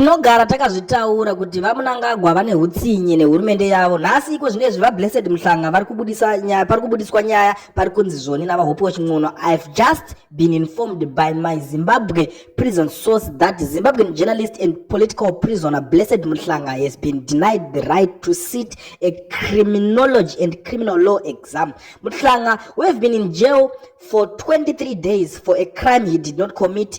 Tinogara takazvitaura kuti VaMnangagwa vane hutsinye nehurumende yavo. Nhasi iko zvinezvi VaBlessed Mhlanga vari kubudisa nyaya, pari kubudiswa nyaya pari kunzi zvoni naVaHope Waching'ono. I've just been informed by my Zimbabwe prison source that Zimbabwean journalist and political prisoner Blessed Mhlanga has been denied the right to sit a criminology and criminal law exam. Mhlanga, who have been in jail for 23 days for a crime he did not commit,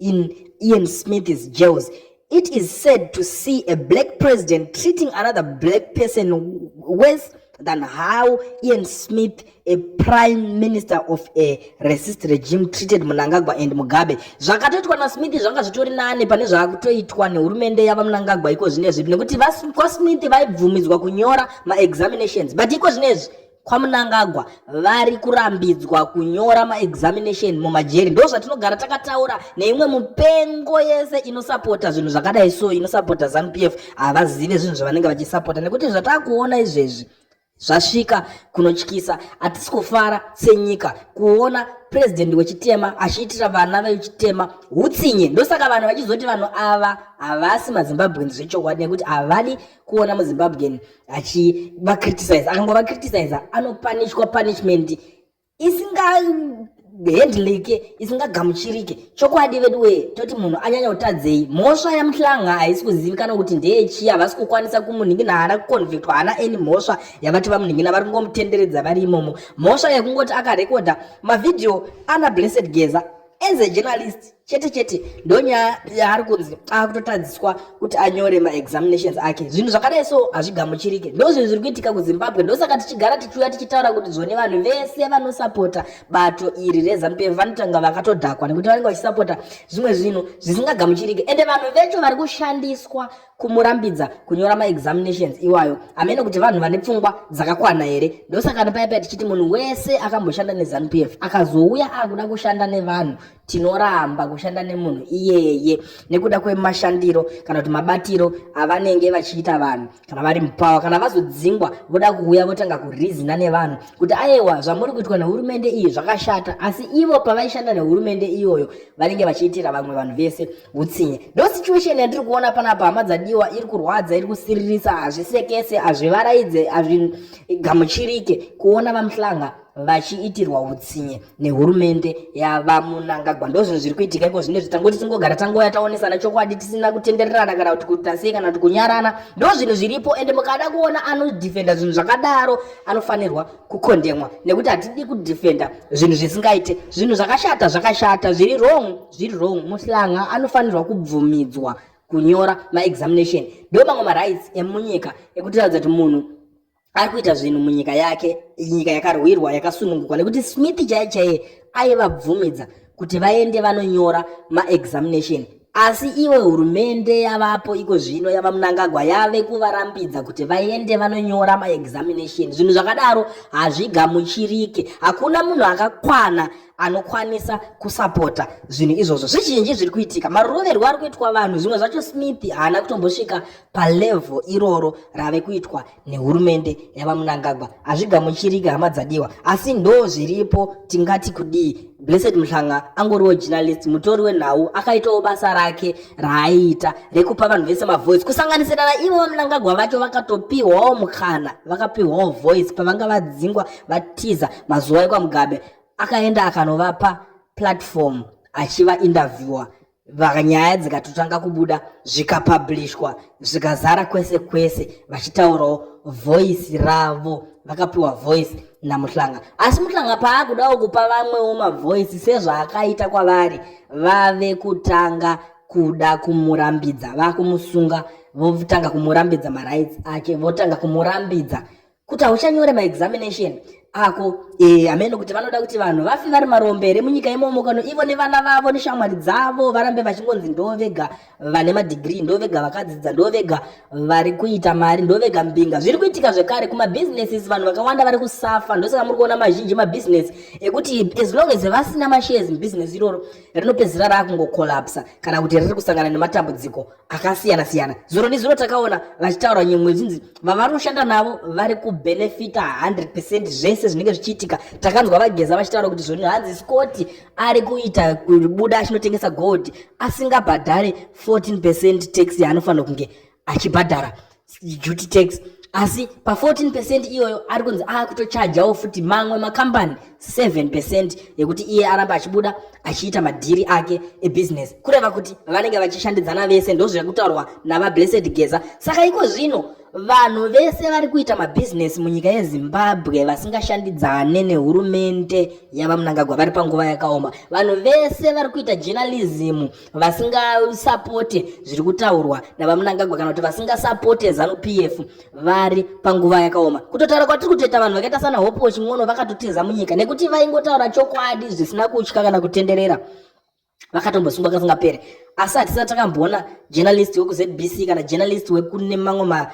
in Ian Smith's jails. It is sad to see a black president treating another black person worse than how Ian Smith, a prime minister of a racist regime, treated Mnangagwa and Mugabe. Zvakatoitwa na Smith zvanga zvitori nane pane zvakutoitwa nehurumende yava Mnangagwa iko zvinezvi nekuti kwaSmith vaibvumidzwa kunyora maexaminations but iko zvinezvi kwamunangagwa vari kurambidzwa kunyora maexamination mumajeri ndo zvatinogara takataura neimwe mupengo yese inosapota zvinhu zvakadai so inosapota zanupf havazive zvinhu zvavanenge vachisapota nekuti zvatakuona izvezvi zvasvika kunotyisa hatisi kufara senyika kuona purezidhendi wechitema achiitira vana vechitema utsinye ndosaka vanhu vachizoti vanhu ava havasi mazimbabweans zvechokwadi nekuti havadi kuona muzimbabwean achivacriticize akangobacriticize anopanishwa punishment isingahandlike isingagamuchirike chokwadi vedu wee toti munhu anyanya kutadzei mhosva yamuhlanga haisi kuzivikana kuti ndeyechii havasi kukwanisa kumunhingina haana kuconvictwa haana any mhosva yavati vamunhingina vari kungomutenderedza vari imomo mhosva yekungoti akarekodha mavhidhiyo ana blessed geza as a journalist chete chete ndonyaya yaari kunzi akutotadziswa kuti anyore maexaminations ake zvinhu zvakadai so hazvigamuchirike ndozvinhu zviri kuitika kuzimbabwe ndosaka tichigara tichiuya tichitaura kuti zvone vanhu vese vanosapota bato iri rezanup f vanotanga vakatodhakwa nekuti vanenge vachisapota zvimwe zvinhu zvisingagamuchirike ende vanhu vecho vari kushandiswa kumurambidza kunyora maexaminations iwayo hameno kuti vanhu vane pfungwa dzakakwana here ndosaka ndopaipa tichiti munhu wese akamboshanda nezanup f akazouya akuda kushanda nevanhu tinoramba kushanda nemunhu iyeye nekuda kwemashandiro kana kuti mabatiro avanenge vachiita vanhu kana vari mupawa kana vazodzingwa voda kuuya votanga kurizina nevanhu kuti ayewa zvamuri kuitwa nehurumende iyi zvakashata asi ivo pavaishanda nehurumende iyoyo vanenge vachiitira vamwe vanhu vese utsinye ndo situation yatiri kuona panapa hama dzadiwa iri kurwadza iri kusiririsa hazvisekese hazvivaraidze hazvigamuchirike kuona vamuhlanga vachiitirwa utsinye nehurumende yavamunangagwa ndozvinhu zviri kuitika iko zvine zvitangoti tingogara tangouya taonesana chokwadi tisina kutendererana kana kuti kutasei kana kuti kunyarana ndo zvinhu zviripo ende mukada kuona anodefenda zvinhu zvakadaro anofanirwa kukondemwa nekuti hatidi kudefenda zvinhu zvisingaite zvinhu zvakashata zvakashata zviri wrong zviri wrong muhlanga anofanirwa kubvumidzwa kunyora maexamination ndo mamwe marights emunyika ekutiratidza kuti munhu ari kuita zvinhu munyika yake nyika yakarwirwa yakasunungukwa nekuti smith chaiye chaiye aivabvumidza kuti vaende vanonyora maexamination Asi iwe hurumende yavapo iko zvino yava munangagwa yave kuvarambidza kuti vaende vanonyora maexamination zvinhu zvakadaro hazvigamuchirike hakuna munhu akakwana anokwanisa kusapota zvinhu izvozvo zvizhinji zviri kuitika maroverwo ari kuitwa vanhu zvimwe zvacho smith haana kutombosvika palevel iroro rave kuitwa nehurumende yavamunangagwa hazvigamuchiriki hama dzadiwa asi ndo zviripo tingati kudii blessed muhlanga angoriwo journalist mutori wenhau akaitawo basa rake raaiita rekupa vanhu vese mavoice kusanganisira naivo vamunangagwa vacho vakatopihwawo mukana vakapihwawo voice pavanga vadzingwa vatiza mazuva ekwamugabe akaenda akanovapa platform achiva interviewer Bva nyaya dzikatotanga kubuda zvikapabhlishwa zvikazara kwese kwese vachitaurawo voisi ravo vakapiwa voisi namuhlanga asi muhlanga paakudawo kupa vamwewo mavoisi sezvaakaita kwavari vave kutanga kuda kumurambidza vakumusunga votanga kumurambidza marights ake votanga kumurambidza kuti hauchanyore maexamination ako e, eh, amene kuti vanoda kuti vanhu vafi vari marombe here munyika imomo kano ivo nevana vavo neshamwari dzavo varambe vachingonzi ndo vega vane madhigiri ndo vega vakadzidza ndo vega vari kuita mari ndo vega mbinga zviri kuitika zvekare kumabhizinesis vanhu vakawanda vari kusafa ndosaka muri kuona mazhinji mabhizinesi ekuti as long as vasina mashares mubhizinesi iroro rinopedzisira raakungokolapsa kana kuti riri kusangana nematambudziko akasiyana siyana zuro nezuro takaona vachitaura nyimwe zvinzi vavanoshanda navo vari kubenefita 100 percent zvese zvinenge zvichiitika takanzwa vageza vachitaura kuti zvoni hanzi scoti ari kuita kubuda achinotengesa gold asingabhadhare 14 percent tax yaanofanira kunge achibhadhara duty tax asi pa14 percent iyoyo ari kunzi akutochajawo futi mamwe makambani 7 percent yekuti iye aramba achibuda achiita madhiri ake ebusiness kureva kuti vanenge vachishandidzana vese ndozviri kutaurwa navablessed geza saka iko zvino vanhu vese vari kuita mabhizinesi munyika yezimbabwe vasingashandidzane nehurumente yavamunangagwa vari panguva yakaoma vanhu vese vari kuita journalism vasingasapote zviri kutaurwa navamunangagwa kana kuti vasingasapote zanu p f vari panguva yakaoma kutotaura kwatiri kutoita vanhu vakaita sana hope wachingono vakatotiza munyika nekuti vaingotaura chokwadi zvisina kutya kana kutenderera vakatombosungwa kasingapere asi hatisati takamboona journalist wekuzbc kana journalist wekune mamwe ma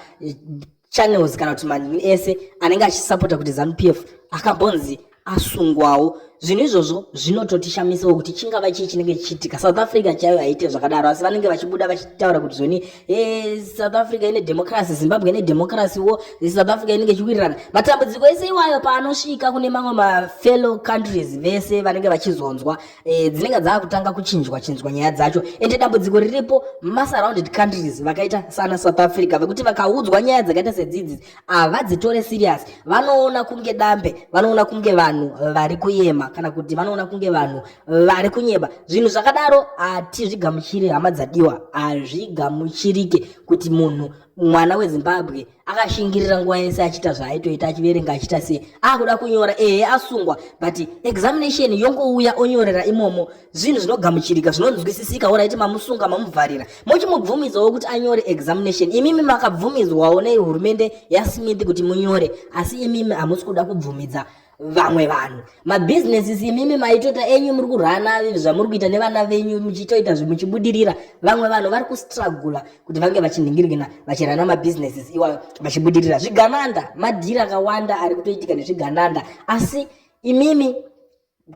channels kana kuti manhu ese anenge achisapota kuti zanu p f akambonzi asungwawo zvinhu izvozvo zvinototishamisiwo kuti chingava chii chinenge chichiitika south africa chaiyo haite zvakadaro asi vanenge vachibuda vachitaura kuti zvoni eh, south africa ine democracy zimbabwe ine democracy wo south africa inenge ichiwirirana matambudziko ese iwayo paanosvika kune mamwe mafellow countries vese vanenge vachizonzwa e, dzinenge dzaakutanga kuchinjwa chinjwa nyaya dzacho ende dambudziko riripo masurrounded countries vakaita sana south africa vekuti vakaudzwa nyaya dzakaita sedzidzi havadzitore serious vanoona kunge dambe vanoona kunge vanhu vari kuyema kana kuti vanoona kunge vanhu vari kunyeba zvinhu zvakadaro hatizvigamuchiri hama dzadiwa hazvigamuchirike kuti munhu mwana wezimbabwe akashingirira nguva yese achiita zvaaitoita achiverenga achiita sei akuda kunyora ehe asungwa but examination yongouya onyorera imomo zvinhu zvinogamuchirika zvinonzwisisika oraiti mamusunga mamuvharira mochimubvumizawo kuti anyore examination imimi makabvumidzwawo nehurumende yasmith kuti munyore asi imimi hamusi kuda kubvumidza vamwe vanhu mabusinesses imimi maitota enyu muri kurana zvamuri kuita nevana venyu muchitoita zvimuchibudirira vamwe vanhu vari kustragula kuti vange vachinhingirigina vachirana mabusinesses iwayo vachibudirira zvigananda madhiri akawanda ari kutoitika nezvigananda asi imimi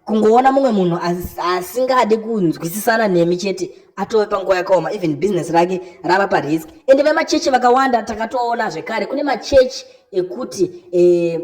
kungoona mumwe munhu asingadi kunzwisisana nemi chete atove panguva yakaoma even business rake rava parisk ende vemachechi vakawanda takatoona zvekare kune machechi ekuti eh,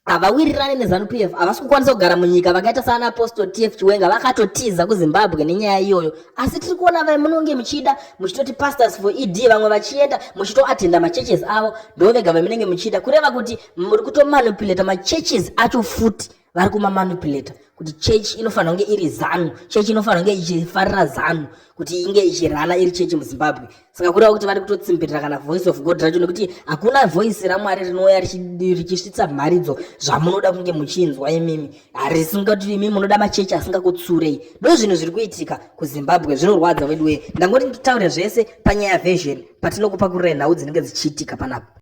havawirirane nezanu pf havasi kukwanisa kugara munyika vakaita saana apostle tf chiwenga vakatotiza kuzimbabwe nenyaya iyoyo asi tiri kuona vai munonge muchida muchitoti pastors for ed vamwe vachienda muchitoatenda machurches avo ndo vega vamunenge muchida kureva kuti muri kutomanipulata machurches acho futi vari kumamanipulata kuti church inofanira kunge iri zanu church inofanira kunge ichifarira zanu kuti inge ichirana iri church muzimbabwe saka kureva kuti vari kutotsimbirira kana voice of god racho nekuti hakuna voice ramwari rinouya richisvitsa mharidzo zvamunoda kunge muchinzwa imimi harisingati imimi munoda machechi asingakutsurei ndo zvinhu zviri kuitika kuzimbabwe zvinorwadza veduwee ndangoti nditaure zvese panyaya version patinokupa kurira nhau dzinenge dzichiitika panapa